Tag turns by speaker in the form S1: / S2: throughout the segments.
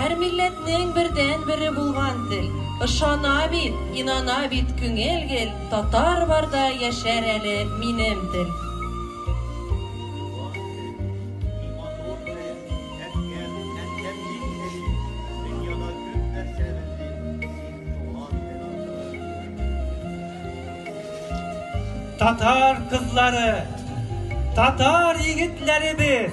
S1: Һәр милләтнең бердән бере булган тел, Ышана бит, инана бит күңел гел, Татар барда яшәр әле минем тел. Туган тел, иң матур тел, Әткәм, әнкәм иң зәлил, Дөньяда күп нәрсә белдем, Син туган тел аркылы. Татар кызлары, татар егетләребез!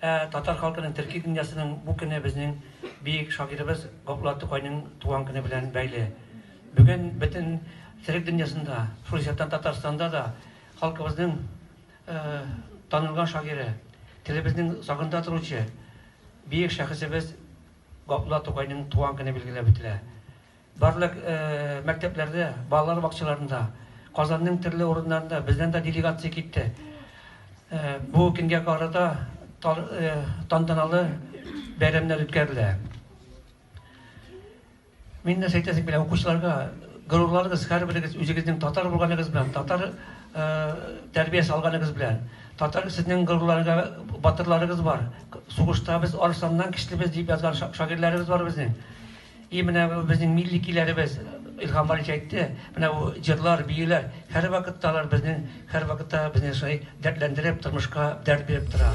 S1: Ә татар халкының төрки дөньясының бу көне безнең биек шагыйребез Габдулла Тукайның туган көне белән бәйле. Бүген бөтен төрек дөньясында, шул исәптән Татарстанда да халкыбызның танылган шагыйре, телебезнең сагында торучы биек шәхесебез Габдулла Тукайның туган көне билгеләп үтелә. Барлык мәктәпләрдә, балалар бакчаларында, Казанның төрле урыннарында бездән дә делегация китте. Бу көнгә карата тантаналы бәйрәмнәр үткәрелә. Мин нәрсә әйтәсем килә, укучыларга, горурланыгыз, һәрберегез үзегезнең татар булганыгыз белән, татар тәрбиясе алганыгыз белән. Татар сезнең горурларга батырларыгыз бар. Сугышта без арысланнан көчлебез дип язган шагыйрьләребез бар безнең. И менә бу безнең милли киләребез, Илһам Валич әйтте, менә бу җырлар, биюләр, һәрвакытта алар безнең, һәрвакытта безне шулай дәртләндереп, тормышка дәрт биреп тора.